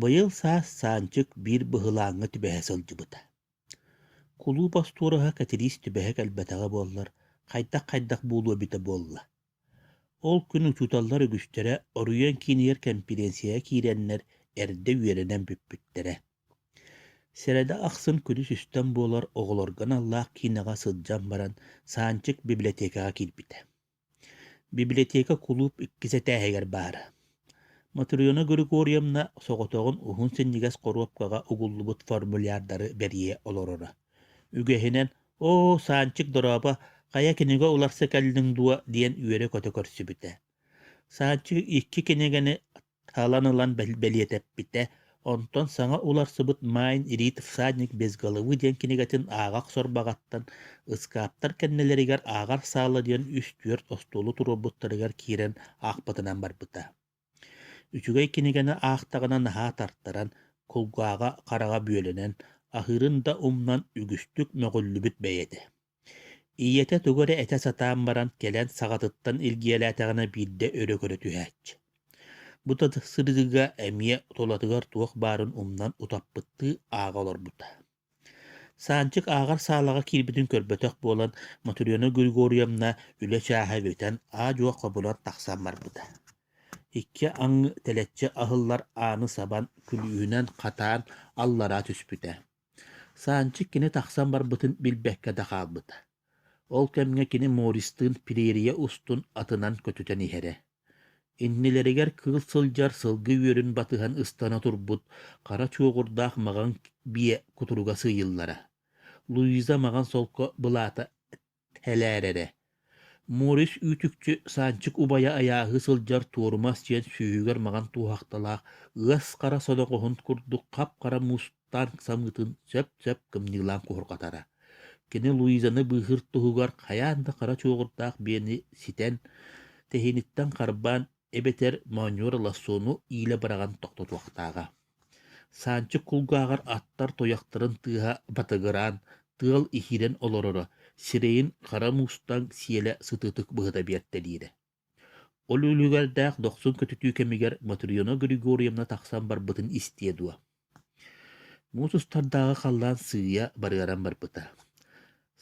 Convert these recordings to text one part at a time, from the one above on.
Быйыл саас Саанчык биир быһылааҥҥа түбэһэ сылдьыбыта. Кулууп остуоруһа Кэтириис түбэһэ кэлбэтэҕэ буоллар, хайдах-хайдах буолуо эбитэ буолла. Ол күн учууталлар үгүстэрэ оройуон киинигэр кэмпириэнсийэҕэ киирэннэр эрдэ үөрэнэн бүппүттэрэ. Сэрэдэ ахсын күнүс үстэн буолар оҕолорго аналлаах киинэҕэ сылдьан баран Саанчык библиотекаҕа киирбитэ. Библиотека кулууп иккис этээһигэр баар. Матрена Григорьевна соҕотоҕун уһун синньигэс хоруопкаҕа угуллубут формуляrdары бэрийэ олороро. Үгэһинэн «Оо, Санчик дорообо, хайа кинигэ уларса кэллиҥ дуо?» диэн үөрэ-көтө көрсүбүтэ. Санчик икки кинигэни Ылан ылан бэлиэтэппитэ. Онтон саҥа уларсыбыт «Майн рид всадник без головы» диэн кинигэтин ааҕах сорбаҕаттан ыскааптар кэннилэригэр «Ааҕар саала» диэн үс-түөрт остуолу туруорбуттарыгар киирэн аахпытынан барбыта. Үчүгэй кинигэни аахтаҕына наһаа тартаран, кулгааҕа-хараҕа бүөлэнэн, аһыырын да умнан үгүстүк мөҕүллүбүт бэйэтэ. ийэтэ тугу эрэ этэ сатаан баран кэлэн саҕатыттан илгиэлээтэҕинэ биирдэ өрө көрө түһээччи бута сырыыга эмиэ тулатыгар туох баарын умнан утаппыттыы ааҕа олорбута Саанчык ааҕар саалаҕа киирбитин көрбөтөх буолан Мотуриана Григорьевна үлэ чааһа бүтэн аа-дьуо хобулан тахсан барбыта. Икки аҥы тэлэччи аһыллар ааны сабан күлүүһүнэн хатаан аллараа түспүтэ. Санчык кини тахсан барбытын билбэккэ да хаалбыта. Ол кэмҥэ кини Морристыын премьерия устун атынан көтүтэн иһэрэ. Иннилэригэр кыыл сылдьар сылгы үөрүн батыһан ыстана турбут хара чуоҕурдаах маҕан биэ кутуруга сыыйыллара. Луиза маҕан солко былаата Хэлээрэрэ Морис үүтүкчү Санчык убайа айааһыы сылдьар туорумас диэн сүүһүгэр маҥан туоһахталаах ыас хара содоҕоһун курдук хап-хара мустаан самыытын сөп-сөп кымньыылаан куһурҕатара. Кини Луизаны быыһыыр туһугар хайаан да хара чуоҕурдаах биэни ситэн, тэһииниттэн харбаан эбэтэр моонньуор лассону иилэ быраҕан тохтотуохтааҕа. Саанчык кулгааҕар аттар туйахтарын тыаһа батыгыраан, тыал иһирэн олороро, сирэйин хара мустаҥ сиэлэ сытыытык быһыта биэртэлиирэ. Ол үлүгэрдээх дохсун көтүтүү кэмигэр Матрена Григорьевна тахсан барбытын истиэ дуо Муус устардааҕы халлаан сыыйа барыаран барбыта.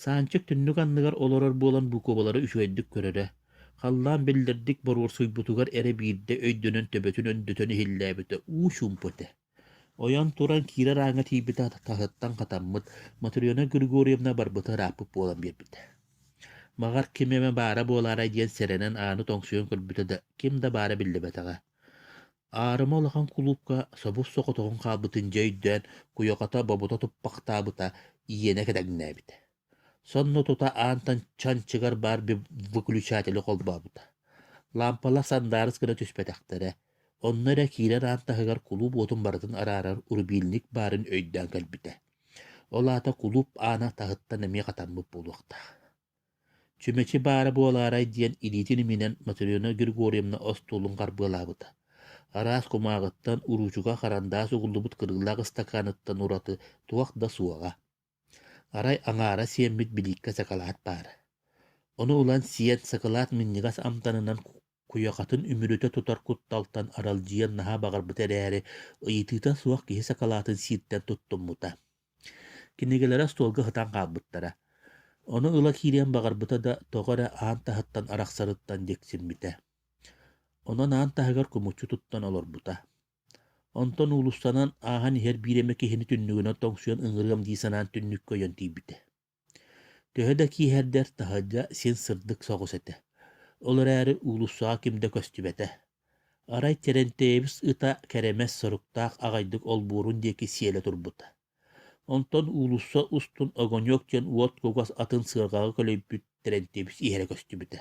Санчык түннүк анныгар олорор буолан буукубалара үчүгэйдик көрөрө. Халлаан биллэрдик боруорсуйбутугар эрэ биирдэ өйдөнөн төбөтүн өндөтөн иһиллээбитэ уу чуумпу этэ. Ойон туран киирэр ааҥҥа тиийбит таһыттан хатаммыт Матрена Григорьевна барбыта ырааппыт буолан биэрбитэ. Маҕар ким эмэ баара буолаарай диэн сэрэнэн ааны тоҥсуйан көрбүтэ да ким да баара биллибэтэҕэ. Аарыма улахан кулуупка собус соҕотоҕун хаалбытын дьэ өйдөөн, куйахата бобута туппахтаабыта, иэнэ кэдэҥнээбитэ. Сонно тута аантан чанчыгар баар выключателі холбообута. Лаампалар сандаарыс гына түспэтэхтэрэ. Онно эрэ киирэр аан таһыгар кулууп уотун барытын араарар урубиилник баарын өйдөөн кэлбитэ. Ол аата кулууп аана таһыттан эмиэ хатаммыт буолуохтаах. Чүмэчи баара буолаарай диэн илиитин иминэн Матрена Григорьевна остуолун харбыалаабыта. Араас кумааҕыттан, уруучука харандаас угуллубут кырыылаах ыстакааныттан ураты туох да суоҕа. Арай аҥаара сиэммит билииккэ сакалаат баара. Ону ылан сиэн сакалаат минньигэс амтанынан Куйахатын үмүрүтэ тутар кутталтан аралдьыйан наһаа баҕарбыта эрээри, ыйытыыта суох киһи сакалаатын сииртэн туттуммута. Кинигэлэрэ остуолга ытан хаалбыттара. Ону ыла киириэн баҕарбыта да, тоҕо эрэ аан таһыттан арахсарыттан дьиксиммитэ. Онон аан таһыгар кумуччу туттан олорбута. Онтон уулуссанан ааһан иһэр биир эмэ киһини түннүгүнэн тоҥсуйан ыҥырыам дии санаан түннүккэ ойон тиийбитэ. Төһө да кииһэрдэр, таһырдьа син сырдык соҕус этэ. Ол эрээри уулуссаҕа ким да көстүбэтэ. Арай Терентьевич ыта кэрэмэс соруктаах аҕайдык олбуорун диэки сиэлэ турбута. Онтон уулусса устун огоньуок диэн уот кугас атын сыарҕаҕа көлөйбүт Терентьевич иһэрэ көстүбүтэ.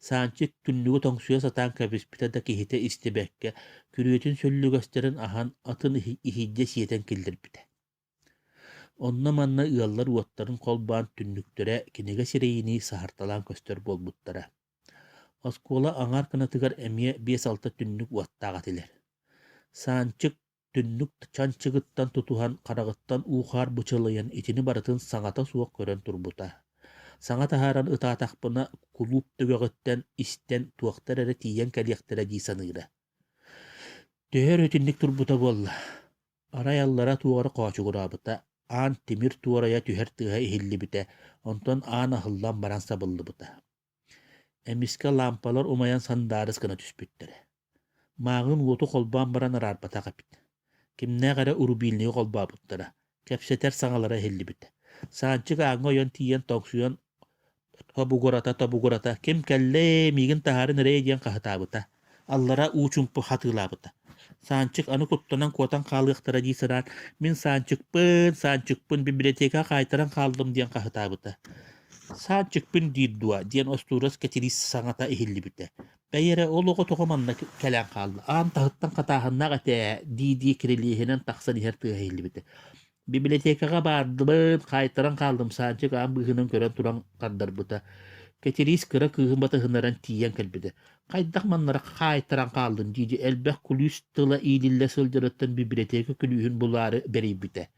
Санчыт түннүгү тоҥсуйа сатаан кэбиспитэ да киһитэ истибэккэ, күрүөтүн сөллүгэстэрин аһан, атын иһийдэ сиэтэн киллэрбитэ. Онно-манна ыаллар уоттарын холбоон түннүктэрэ кинигэ сирэйинии саһарталаан көстөр буолбуттара. Оскуола аҥаар кынатыгар эмиэ биэс-алта түннүк уоттаах этилэр. Саанчык түннүк чанчыгыттан тутуһан, хараҕыттан уу-хаар бычалыйан, итини барытын саҥата суох көрөн турбута. Саҥа таһааран ытаатахпына, кулууп түгэҕиттэн истэн туохтар эрэ тиийэн кэлиэхтэрэ дии саныыра. Төһө эрэ итинник турбута буолла, Арай аллара тугар хоочугураабыта, аан тимир туорайа түһэр тыаһа иһиллибитэ, онтон аан аһыллан баран сабыллыбыта. Эмискэ лаампалар умайан сандаарыс гына түспүттэрэ. Мааҕын уоту холбоон баран араарбатах эбит. Кимнээх эрэ урубиилнигы холбообуттара, кэпсэтэр саҥалара иһиллибитэ. Саанчык ааҥҥа ойон тиийэн тоҥсуйан Тобугурата, тобугурата, ким кэллэй, миигин таһааран эрэй диэн хаһытаабыта. Аллара уу-чумпу хатыылаабыта. Саанчык аны куттанан куотан хаалыахтара дии санаан, мин Саанчыкпын, Саанчыкпын библиотекаҕа хаайтаран хааллым диэн хаһытаабыта. Саанчыкпын диир дуо диэн остуурас Кэтириис саҥата иһиллибитэ. Бэйи эрэ ол оҕо тоҕо манна кэлэн хаалла? Аан таһыттан хатааһыннаах этэ ээ дии-дии кирилиэһинэн тахсан иһэр тыаһа иһиллибитэ. Бибилэтиэкэҕэ баардыбын, хаайтаран хааллым, Саанчык аан быыһынан көрөн туран хардарбыта. Кэтириис кыра кыыһын батыһыннаран тиийэн кэлбитэ. Хайдах маннара хаайтаран хааллын дии элбэх кулүүс тыла иилиллэ сылдьарыттан бибилэтиэкэ күлүүһүн булаары бэрийбитэ.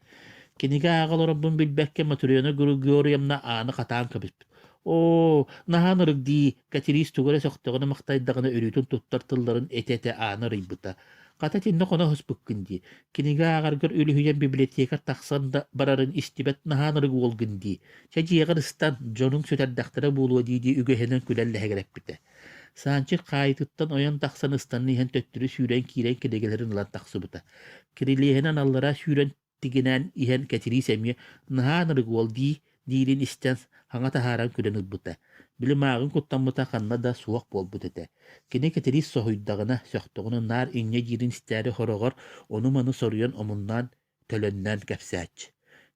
Кинигэ ааҕа олорорбун билбэккэ Матриона Григорьевна ааны хатаан кэбиспит. Оо, наһаа ынырык дии, Кэтириис тугу эрэ сөхтөҕүнэ махтайдаҕына өрүүтүн туттар тылларын этэ-этэ аана арыйбыта. Хата итиннэ хоно оһуспуккун дии. Кинигэ ааҕаргар үлүһүйэн библиотека тахсан да барарын истибэт наһаан ырыгы буолгун дии. Чэ дьиэҕэр ыстан, дьонуҥ сүтэрдэхтэрэ буолуо дии-дии үгэһинэн күлэн лэһэгэрэппитэ. Саанчык хаайытыттан ойон тахсан ыстанан иһэн төттөрү сүүрэн киирэн кинигэлэрин ылан тахсыбыта. Кирилиэһинэн аллара сүүрэн тигинээн иһэн Кэтириис эмиэ наһаан ырыгы уол дии диирин истэн, хаҥа таһааран күлэн ылбыта. Били мааҕын куттаммыта ханна да суох буолбут этэ. Кини Кэтириис соһуйдаҕына, сөхтөҕүнэ наар инньэ диирин истээри хороҕор ону-маны соруйан омуннаан, төлөннөөн кэпсээччи.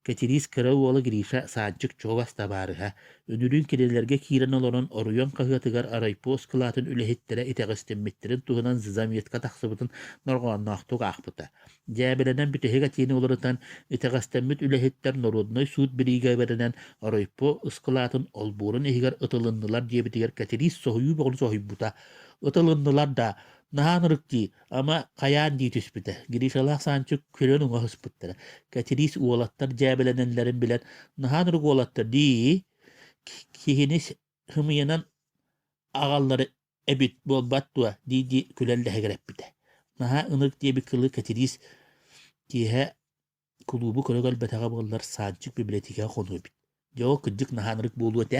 Кэтириис кыра уола Гриша саанчык чугас табаарыһа, үнүрүүн кинилэргэ киирэн олорон оройуон хаһыатыгар арайпу оскылаатын үлэһиттэрэ итэҕэстиммиттэрин туһунан заметка тахсыбытын норҕоонноохтук аахпыта. Дьээбэлэнэн бүтэһик этиини уларытан, итэҕэстэммит үлэһиттэр норуодунай суут бириигэбэринэн Оройпо ыскылаатын олбуорун иһигэр ытылыннылар диэбитигэр Кэтириис соһуйуу бөҕөнү соһуйбута. Ытылыннылар да, наһаа ынырык дии, ама хайаан дии түспүтэ. Гришалаах Санчык күлэн уҥа сыспыттара. Кэтириис уолаттар дьээбэлэнэллэрин билэн, наһаа ынырык уолаттар дии, киһини хымыйынан аҕаллара эбит буолбат дуо дии-дии күлэн лэһигирэппитэ. Наһаа ынырык диэбит кылы Кэтириис киэһэ кулуубу көрө кэлбэтэҕэ буоллар Саанчык библиотекаҕа хонуу эбит. Дьэ, кырдьык наһаа ынырык буолуо этэ.